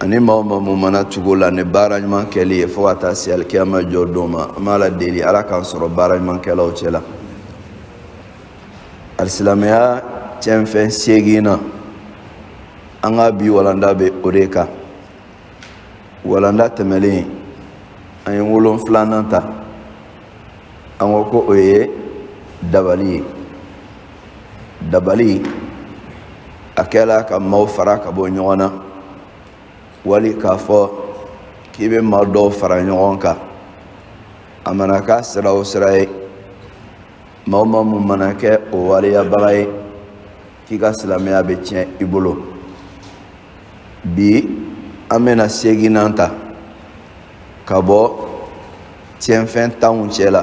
ani maa o maa mun mana tugu o la ni baara ɲuman kɛli ye fo ka taa se alikiyama jɔ don ma an b'ala deli ala k'an sɔrɔ baara ɲuman kɛlaw cɛ la alisilamɛya cɛnfɛn seeginnan an ka bi walanda bɛ o de kan walanda tɛmɛlen an ye wolonfilanan ta an ko ko o ye dabali ye dabali a kɛla ka maaw fara ka bɔ ɲɔgɔn na wali k'a fɔ k'i bɛ maa dɔw fara ɲɔgɔn kan a mana k'a sira o sira ye maa o maa mun mana kɛ o waliyabaga ye k'i ka silamɛya bɛ tiɲɛ i bolo bi an bɛna seeginnan ta ka bɔ tiɲɛfɛn tanw cɛ la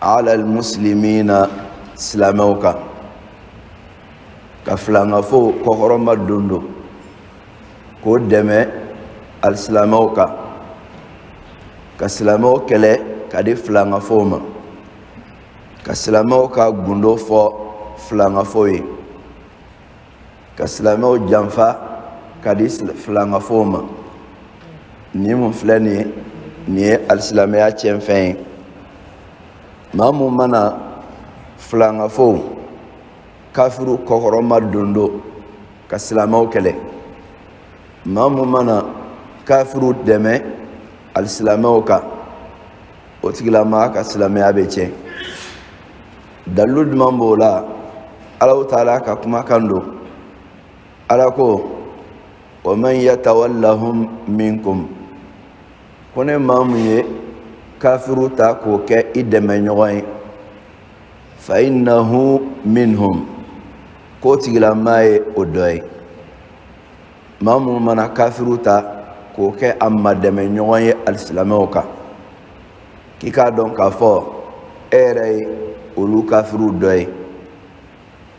ala almuslimina silamɛw kan ka filankafow kɔkɔrɔmadondon k'o dɛmɛ alisilamɛw kan ka silamɛw kɛlɛ ka di filankafow ma ka silamɛw ka gundo fɔ filankafow ye ka silamɛw janfa ka di filankafow ma nin mun filɛ nin ye nin ye alisilamɛya cɛnfɛn ye maa mun mana filankafow kafiriw kɔkɔrɔmadondon ka silamɛw kɛlɛ maa mun mana kafiriw dɛmɛ alisilamɛw kan o tigilamaa ka silamɛya bɛ tiɲɛ dalilu jumɛn b'o la alahu taala ka kumakan don ala ko wa man yatawallahum minkum ko ni maa mun ye kafiriw ta k'o kɛ i dɛmɛɲɔgɔn ye fa innahu minhum k'o tigilamaa ye o dɔ ye maa mun mana kafiriw ta k'o kɛ a madɛmɛɲɔgɔn ye alisilamɛw kan k'i k'a dɔn k'a fɔ e yɛrɛ ye olu kafiriw dɔ ye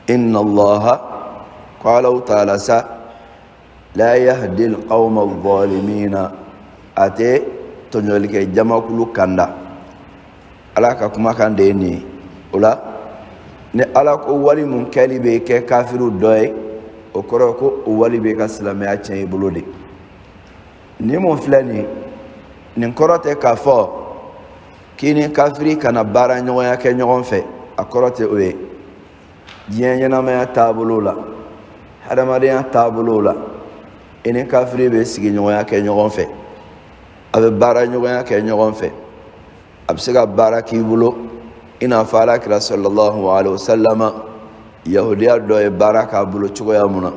inna allaha ko alahu taala sa la yahdi alqawma alzalimina a tɛ tɔɲɔlikɛ jamakulu kanda ala ka kumakan de ye nin ye o la ni ala ko wali mun kɛli b'i kɛ kafiriw dɔ ye o kɔrɔ ko o wali b'i ka silamɛya tiɲɛ i bolo de nin mun filɛ nin nin kɔrɔ tɛ k'a fɔ k'i ni kafiri kana baara ɲɔgɔnya kɛ ɲɔgɔn fɛ a kɔrɔ tɛ o ye diɲɛ ɲɛnamaya taabolo la hadamadenya taabolo la i ni kafiri bɛ sigiɲɔgɔnya kɛ ɲɔgɔn fɛ a bɛ baara ɲɔgɔnya kɛ ɲɔgɔn fɛ a bɛ se ka baara k'i bolo i n'a fɔ ala kira salalahu alayhi wa salam yahudiya dɔ ye baara k'a bolo cogoya mun na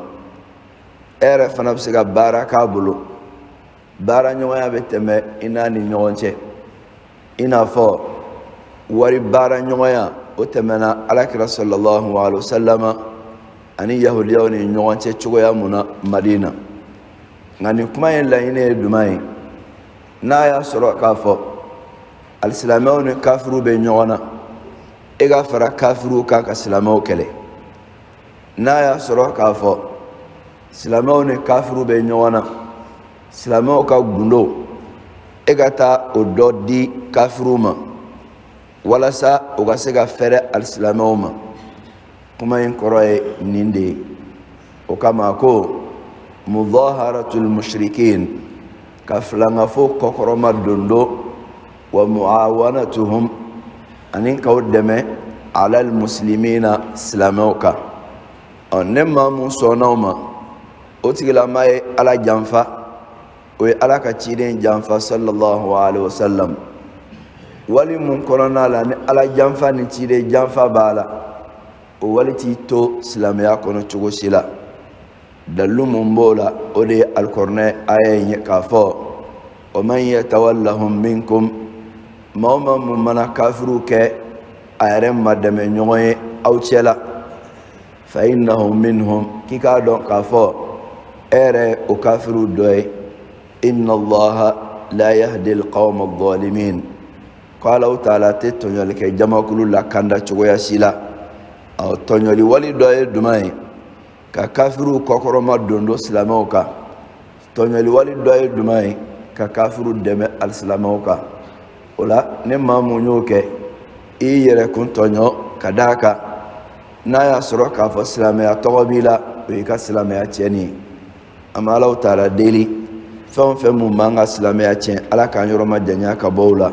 e yɛrɛ fana bɛ se ka baara k'a bolo baara ɲɔgɔnya bɛ tɛmɛ i n'a ni ɲɔgɔn cɛ i n'a fɔ wari baara ɲɔgɔnya o tɛmɛna ala kira sallallahu alaihi wasallam ani yahudiyaw ni ɲɔgɔn cɛ cogoya mun na madina nka nin kuma in laɲini ye duman ye n'a y'a sɔrɔ k'a fɔ alisilamɛw ni kafiriw bɛ ɲɔgɔn na e ka fara kafiriw kan ka silamɛw kɛlɛ n'a y'a sɔrɔ k'a fɔ silamɛw ni kafiriw bɛ ɲɔgɔn na silamɛw ka gundo e ka taa o dɔ di kafiriw ma walasa u ka se ka fɛrɛ alisilamɛw ma kuma in kɔrɔ ye nin de ye o kama ko mudhaharatul mushrikin ka filangafo kɔkɔrɔma dondo wa muawanatuhum ani k'u dɛmɛ alal muslimina silamɛw kan ɔ ni maa mun sɔnna o ma o tigilama ye ala janfa o ye ala ka ciden janfa sallallahu alaihi wasallam wali mun kɔnɔna la ni ala janfa ni ciden janfa b'a la o wali t'i to silamɛya kɔnɔ cogo si la dalilu mun b'o la o de ye alikɔrinɛ aya in ye k'a fɔ wa man yatawallahum minkum maa o maa mun mana kafiriw kɛ a yɛrɛ ma dɛmɛ ɲɔgɔn ye aw cɛla fa innahu minhum k'i k'a dɔn k'a fɔ e yɛrɛ ye o kafiriw dɔ ye inna allaha la yahdi alqawma adh-dhalimin ko alahu taala tɛ tɔɲɔli kɛ jamakulu lakanda cogoya si la ɔ tɔɲɔli wali dɔ ye duman ye ka kafiriw kɔkɔrɔma dondo silamɛw kan tɔɲɔli wali dɔ ye duman ye ka kafiriw dɛmɛ alisilamɛw kan o la ni maa mun y'o kɛ i y'i yɛrɛkun tɔɲɔ ka d'a kan n'a y'a sɔrɔ k'a fɔ silamɛya tɔgɔ b'i la o y'i ka silamɛya tiɲɛni ye an bɛ alahu taala deli fɛn o fɛn mun b'an ka silamɛya tiɲɛ ala k'an yɔrɔ ma janya ka bɔ o la